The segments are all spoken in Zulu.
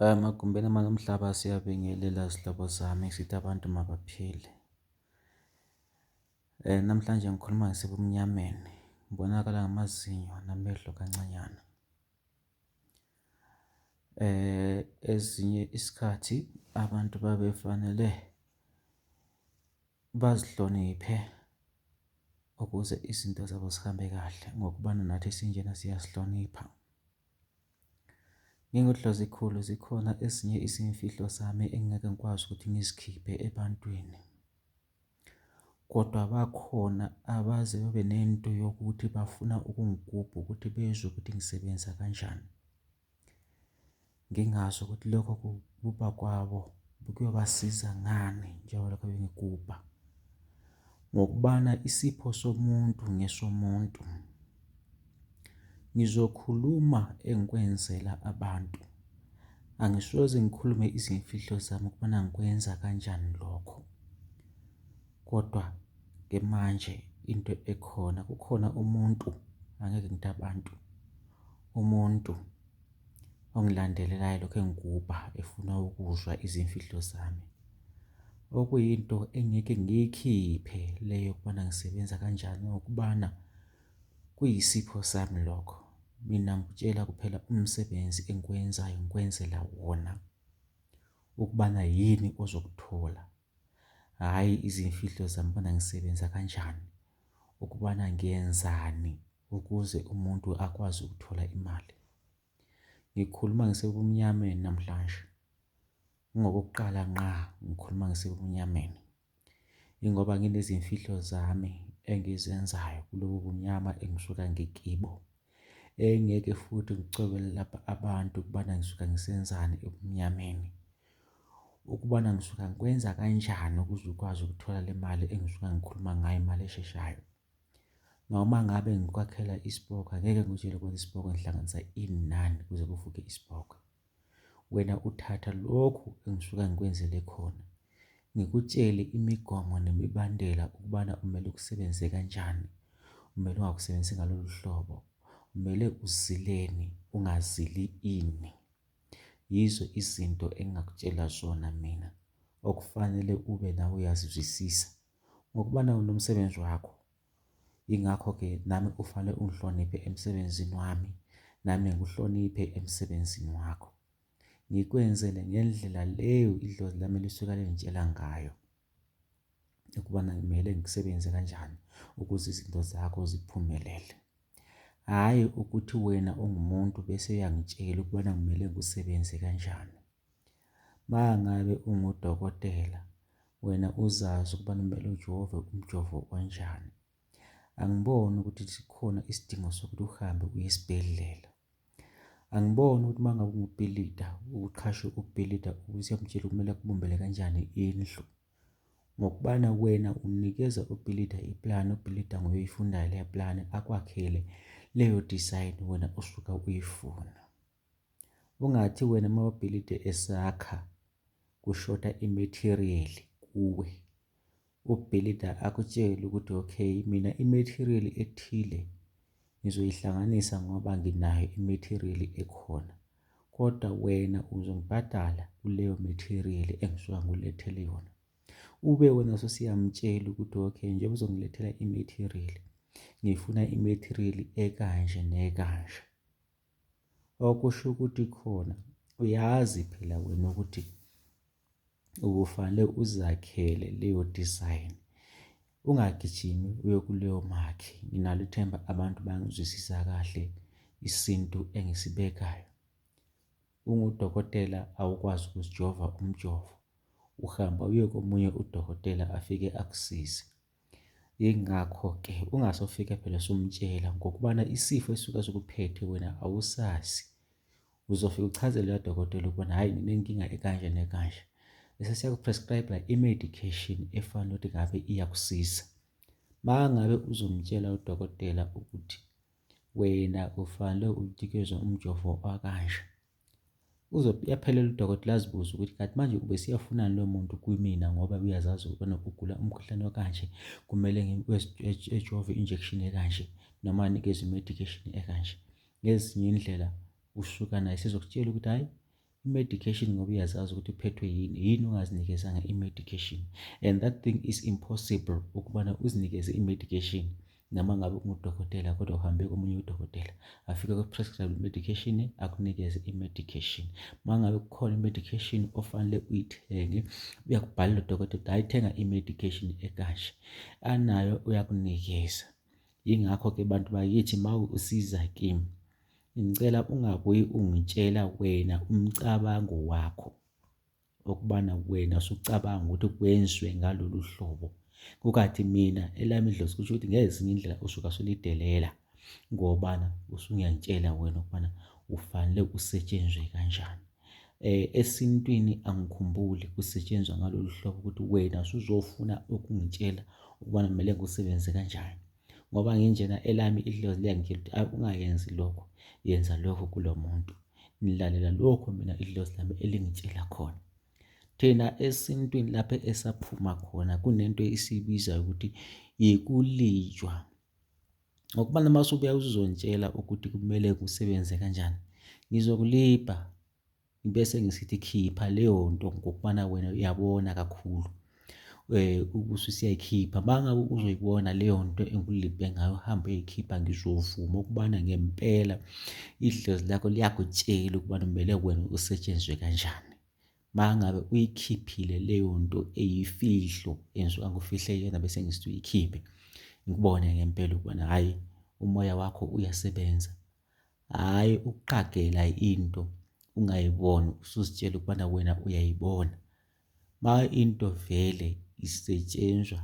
Emagumbini amanye omhlaba siyabingelela zihlobo zami sithi abantu mabaphile. Namhlanje ngikhuluma ngisebumnyameni, ngibonakala ngamazinyo namehlo kancanyana. Ezinye isikhathi abantu babefanele bazihloniphe ukuze izinto zabo zihambe kahle ngokubana nathi esinjena siyasihlonipha. NginguDlozikhulu zikhona ezinye izimfihlo zami engingeke ngikwazi ukuthi ngizikhiphe ebantwini. Kodwa bakhona abaze babe nento yokuthi bafuna ukungigubha ukuthi bezwe ukuthi ngisebenza kanjani. Ngingazi ukuthi lokho kugubha kwabo kuyobasiza ngani njengoba lokho bengigubha. Ngokubana isipho somuntu ngesomuntu. Ngizokhuluma engikwenzela abantu. Angisoze ngikhulume izimfihlo zami ukubana ngikwenza kanjani lokho. Kodwa-ke manje into ekhona kukhona umuntu, angeke ngithi abantu, umuntu. ongilandelela elokhu engigubha efuna ukuzwa izimfihlo zami. Okuyinto engeke ngiyikhiphe le yokubana ngisebenza kanjani ngokubana kuyisipho sami lokho. Mina ngikutshela kuphela umsebenzi engiwenzayo ngikwenzela wona ukubana yini ozokuthola hhayi izimfihlo zami bona ngisebenza kanjani, ukubana ngiyenzani ukuze umuntu akwazi ukuthola imali. Ngikhuluma ngisebumnyameni namhlanje, kungokokuqala nqa ngikhuluma ngisebumnyameni. Ingoba nginezimfihlo zami engizenzayo kulobu bumnyama engisuka ngikibo. Engeke futhi ngicobele lapha abantu ukubana ngisuka ngisenzani ebumnyameni. Ukubana ngisuka ngikwenza kanjani ukuze ukwazi ukuthola le mali engisuka ngikhuluma ngayo, imali esheshayo. Noma ngabe ngikwakhela isipoki, angeke ngikutshele ukwenza isipoki ngihlanganisa inani kuze kuvuke isipoki. Wena uthatha lokhu engisuka ngikwenzele khona, ngikutshele imigomo nemibandela ukubana kumele ukusebenzise kanjani, kumele ungakusebenzisi ngalolu hlobo, kumele uzileni, ungazili ini. Yizo izinto engingakutshela zona mina okufanele ube nawe uyazizwisisa ngokubana unomsebenzi wakho. Yingakho-ke nami ufale ungihloniphe emsebenzini wami, nami ngikuhloniphe emsebenzini wakho. Ngikwenzele ngendlela leyo idlozi lami lisuke lingitshela ngayo ukubana kumele ngisebenze kanjani ukuze izinto zakho ziphumelele. Hhayi ukuthi wena ungumuntu bese uyangitshela ukubana kumele ngisebenze kanjani. Mangabe ungudokotela wena uzazi ukuba kumele ujove umjovo onjani. Angiboni ukuthi sikhona isidingo sokuthi uhambe uye esibhedlela. Angiboni ukuthi uma ngabe ungubhilida uqhashe ubhilida ukuthi uyamtshela kumele akubumbele kanjani indlu. Ngokubana wena unikeza ubhilida iplani, ubhilida nguye oyifundayo leya plani akwakhele leyo design wena osuke uyifuna. Ungathi wena uma ubhilidi esakha kushoda i-material kuwe, ubhilida akutshele ukuthi okay mina i-material ethile ngizoyihlanganisa ngoba nginayo i-material ekhona kodwa wena uzongibhadala kuleyo material engisuka ngulethele yona. Ube wena ususiyamtshela ukuthi okay njengoba uzongilethela i-material ngifuna i-material ekanje nekanje. Okusho ukuthi khona uyazi phela wena ukuthi ubufanele uzakhele leyo design, ungagijimi uye kuleyo makhi. Nginalo ithemba abantu bangizwisisa kahle isintu engisibekayo. Ungudokotela awukwazi ukuzijova umjovo, uhamba uye komunye udokotela afike akusize. Yingakho-ke ungase ufike phela usumtshela ngokubana isifo esuke sikuphethe wena awusazi. Uzofike uchazele udokotela ukubona hhayi nginenkinga ekanje nekanje. Bese siyaku-prescribe-a i-medication efanele ukuthi ngabe iyakusiza. Uma ngabe uzomtshela udokotela ukuthi wena ufanele unikeze umjovo wakanje. Uzobe uyaphelelwa udokotela azibuze ukuthi kanti manje ubesiyafunani lo muntu kwimina ngoba uyazazi ukubana ugula umkhuhlane okanje, kumele ejove injection ekanje noma anikezwe i-medication ekanje. Ngezinye indlela usuka naye sezokutshela ukuthi hhayi i-medication ngoba uyazazi ukuthi uphethwe yini, yini ungazinikezanga i-medication and that thing is impossible ukubana uzinikeze i-medication. noma ngabe ungudokotela kodwa uhambe komunye udokotela afike ku-prescribe medication akunikeze i-medication uma ngabe kukhona i-medication ofanele uyithenge uyakubhalela udokotela hayi thenga i-medication ekanje anayo uyakunikeza yingakho-ke bantu bakithi uma usiza kimi ngicela ungabuyi ungitshela wena umcabango wakho Ukubana wena usucabanga ukuthi kwenziwe ngalolu hlobo kukathi mina elami idlozi kusho ukuthi ngezinye indlela usuke usulidelela ngobana usungiyangitshela wena ukubana ufanele usetshenzwe kanjani eh esintwini angikhumbuli kusetshenzwa ngalolu hlobo ukuthi wena usuzofuna ukungitshela ukubana kumele ngisebenze kanjani ngoba nginjena elami idlozi liyangitshela ukuthi akungayenzi lokhu yenza lokhu kulo muntu ngilalela lokhu mina idlozi lami elingitshela khona thina esintwini lapho esaphuma khona kunento esiyibiza ukuthi yikulijwa ngokuba noma usubuya uzontshela ukuthi kumele kusebenze kanjani ngizokulibha Ngibe sengisithi khipha leyo nto ngokubana wena uyabona kakhulu eh, um ususiyayikhipha mangabe uzoyibona leyo nto engulibhe ngayo uhambe uyikhipha ngizovuma ukubana ngempela idlozi lakho liyakutshela ukubana kumele wena usetshenzwe kanjani mangabe uyikhiphile leyo nto eyifihlo enziwa ngufihle yena bese ngisithi uyikhiphe ngikubone ngempela ukubana hhayi umoya wakho uyasebenza Hhayi ukuqagela into ungayiboni usuzitshela ukubana wena uyayibona. Uma into vele isetshenzwa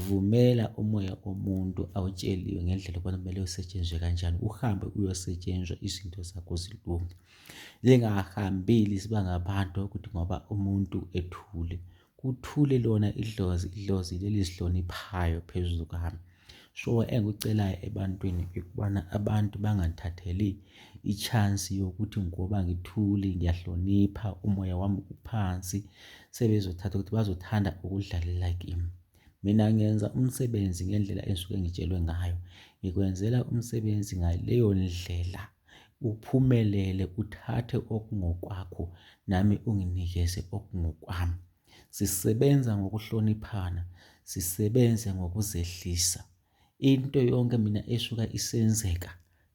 vumela umoya omuntu awutsheliwe ngendlela ukubana kumele usetshenzwe kanjani uhambe uyosetshenzwa izinto zakho zilunge. Zingahambeli ziba ngabantu ukuthi ngoba umuntu ethule Kuthule lona idlozi, idlozi lelizihloniphayo phezulu kwami. So engikucelayo ebantwini ukubana abantu bangangithatheli i-chance yokuthi ngoba ngithuli ngiyahlonipha umoya wami uphansi sebezothatha ukuthi bazothanda ukudlalela kimi. Mina ngenza umsebenzi ngendlela engisuke ngitshelwe ngayo. Ngikwenzela umsebenzi ngaleyo ndlela. Uphumelele uthathe okungokwakho nami unginikeze okungokwami. Sisebenza ngokuhloniphana, sisebenze ngokuzehlisa. Into yonke mina esuka isenzeka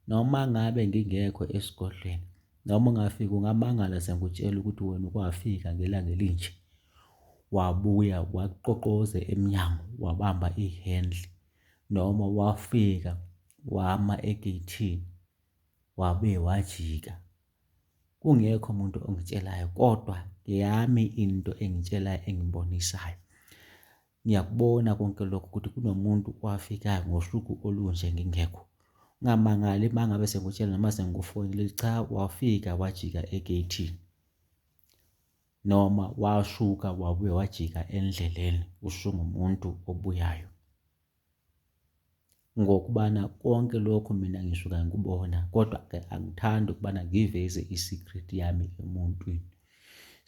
noma ngabe ngingekho esigodlweni noma ungafika ungamangala sengikutshela ukuthi wena ukwafika ngelanga elinje. Wabuya wakuqoqoze emnyango wabamba ihendle. noma wafika wama egeyithini wabe wajika kungekho umuntu ongitshelayo kodwa ngeyami into engitshelayo engibonisayo ngiyakubona konke lokho ukuthi kunomuntu owafikayo ngosuku olunje ngingekho ungamangali uma ngabe sengikutshela noma sengikufonile cha wafika wajika egeyithini noma washuka wabuye wajika endleleni usungumuntu obuyayo ngokubana konke lokho mina ngisuka ngikubona kodwa ke angithandi ukubana ngiveze i-secret yami emuntwini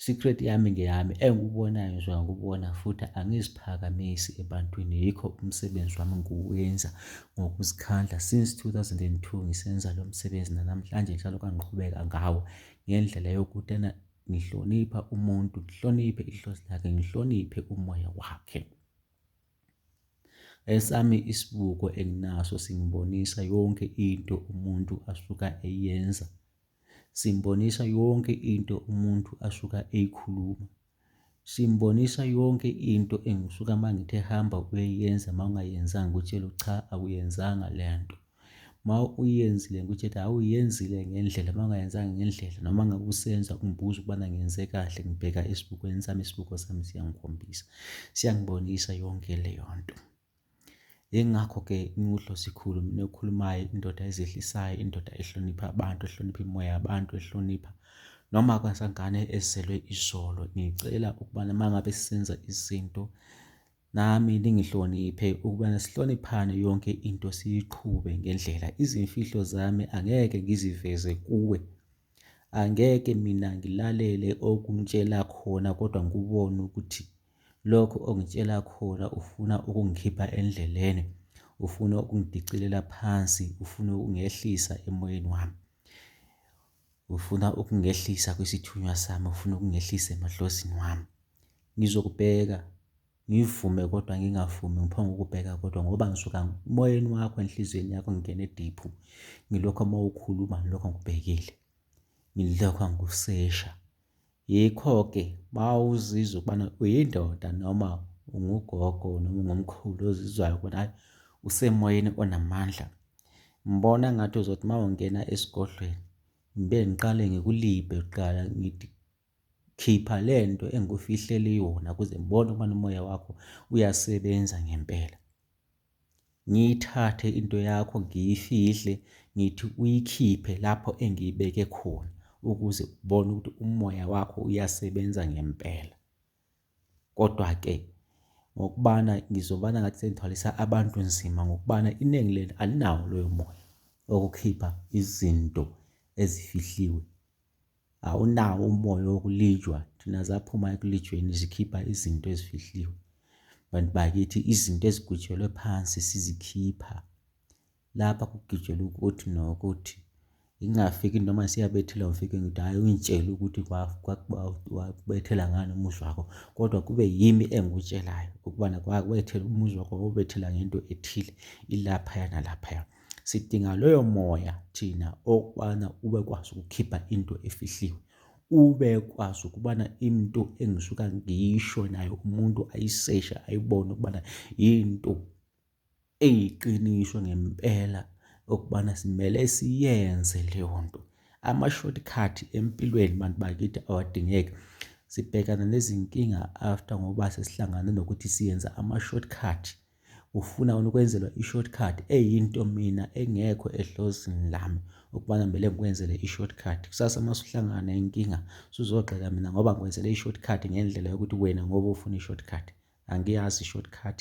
secret yami ngeyami engikubonayo ngisuka ngikubona futhi angiziphakamisi ebantwini yikho umsebenzi wami ngiwenza ngokuzikhandla since 2002 ngisenza lo msebenzi nanamhlanje njalo kangiqhubeka ngawo ngendlela yokutena ngihlonipha umuntu, ngihloniphe ihlozi lakhe, ngihloniphe umoya wakhe. Esami isibuko enginaso singibonisa yonke into umuntu asuka eyenza, simbonisa yonke into umuntu asuka eyikhuluma, Simbonisa yonke into engisuka uma ngithe hamba uyoyenza uma ungayenzanga ukutshela cha awuyenzanga le nto. Uma uyenzile ngikutshela hhawu uyenzile ngendlela uma ungayenzanga ngendlela noma ngabe usenza ungibuza ukubana ngenze kahle ngibheka esibukweni sami, isibuko sami siyangikhombisa. Siyangibonisa yonke leyo nto. Yingakho ke ngiwudlosikhulu mina okhulumayo indoda ezehlisayo, indoda ehlonipha abantu, ehlonipha imimoya yabantu, ehlonipha noma kwasangane ezelwe izolo. Ngicela ukubana uma ngabe senza izinto nami ningihloniphe ukubana sihloniphane yonke into siyiqhube ngendlela. Izimfihlo zami angeke ngiziveze kuwe. Angeke mina ngilalele okungitshela khona kodwa ngikubone ukuthi Lokhu ongitshela khona ufuna ukungikhipha endleleni, ufuna ukungidicilela phansi, ufuna ukungehlisa emoyeni wami. Ufuna ukungehlisa kwisithunywa sami, ufuna ukungehlisa emadlozini wami. Ngizokubheka, ngivume kodwa ngingavumi ngiphonge ukubheka kodwa ngoba ngisuka emoyeni wakho enhliziyweni yakho ngingene diphu. Ngilokho uma ukhuluma ngilokho ngikubhekile, ngilokho ngikusesha. Yikho-ke uma uzizwa ukubana uyindoda noma ungugogo noma ungumkhulu ozizwayo ukuthi hhayi usemoyeni onamandla, ngibona ngathi uzothi uma ungena esigodlweni ngibe ngiqale ngikulibhe kuqala ngithi khipha le nto engikufihlele yona ukuze ngibone ukubana umoya wakho uyasebenza ngempela. ngiyithathe into yakho ngiyifihle ngithi uyikhiphe lapho engiyibeke khona ukuze ubone ukuthi umoya wakho uyasebenza ngempela. Kodwa-ke ngokubana ngizobana ngathi sengithwalisa abantu nzima ngokubana iningi lenu alinawo loyo moya okukhipha izinto ezifihliwe awunawo umoya wokulijwa thina zaphuma ekulijweni zikhipha izinto ezifihliwe bantu bakithi izinto ezigwitshelwe phansi sizikhipha lapha kugitshelwa ukuthi nokuthi ingafiki noma siyabethela ngifike ngithi hhayi ungitshele ukuthi kwakubethela ngani umuzi wakho kodwa kube yimi engikutshelayo ukubana kwakubethela umuzi wakho wawubethela ngento ethile ilaphaya nalaphaya Sidinga loyo moya thina okubana ubekwazi ukukhipha into efihliwe. Ubekwazi ukubana into engisuka ngisho nayo umuntu ayiseshe ayibone ukubana yinto eyiqiniso ngempela okubana simele siyenze leyo nto. Ama-shortcut empilweni bantu bakithi awadingeki. Sibhekana nezinkinga after ngoba sesihlangane nokuthi siyenza ama-shortcut. Ufuna wena ukwenzelwa i-shortcut eyinto mina engekho edlozini lami ukubana kumele ngikwenzele i-shortcut. Kusasa uma usuhlangana nenkinga suzogxeka mina ngoba ngikwenzele i-shortcut ngendlela yokuthi wena ngoba ufuna i-shortcut. Angiyazi i-shortcut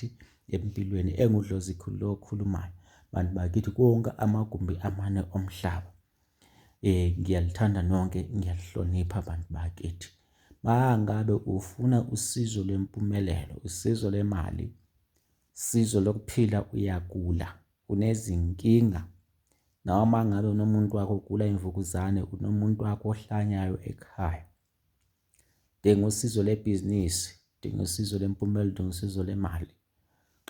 empilweni engudlozi khulu lokhulumayo. Bantu bakithi konke amagumbi amane omhlaba. Eh ngiyalithanda nonke ngiyalihlonipha abantu bakithi. Mangabe ufuna usizo lwempumelelo, usizo lemali, usizo lokuphila uyagula, unezinkinga noma ngabe unomuntu wakho ogula imvukuzane, unomuntu wakho ohlanyayo ekhaya. Udinga usizo lebhizinisi, udinga usizo lwempumela, udinga usizo lemali.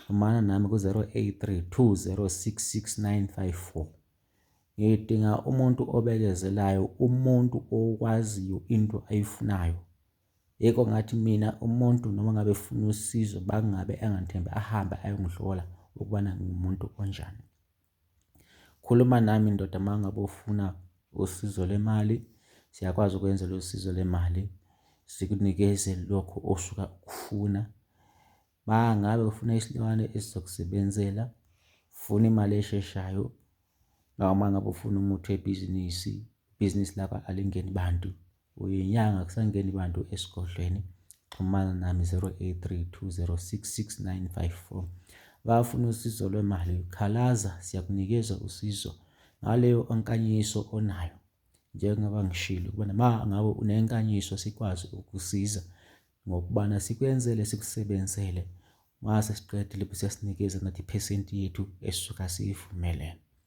Xhumana nami ku-083 2066954. Ngidinga umuntu obekezelayo, umuntu okwaziyo into ayifunayo. Yiko ngathi mina umuntu noma ngabe efuna usizo bangabe angangithembi ahambe ayongihlola ukubana ngimuntu onjani. Khuluma nami ndoda uma ngabe ufuna usizo lwemali, siyakwazi ukwenzela usizo lwemali, sikunikeze lokho osuka ukufuna. Uma ngabe ufuna isilwane esizokusebenzela, ufuna imali esheshayo, noma ngabe ufuna umuthi webhizinisi, ibhizinisi lakho alingeni bantu. Uyinyanga kusangeni bantu esigodlweni xhumana nami 0832066954 bafuna usizo lwemali khalaza siyakunikeza usizo ngaleyo onkanyiso onayo njengoba ngishilo ukubana ma ngabe unenkanyiso sikwazi ukusiza ngokubana sikwenzele sikusebenzele mase siqedile bese siyasinikeza nathi iphesenti yethu esuka siyivumelene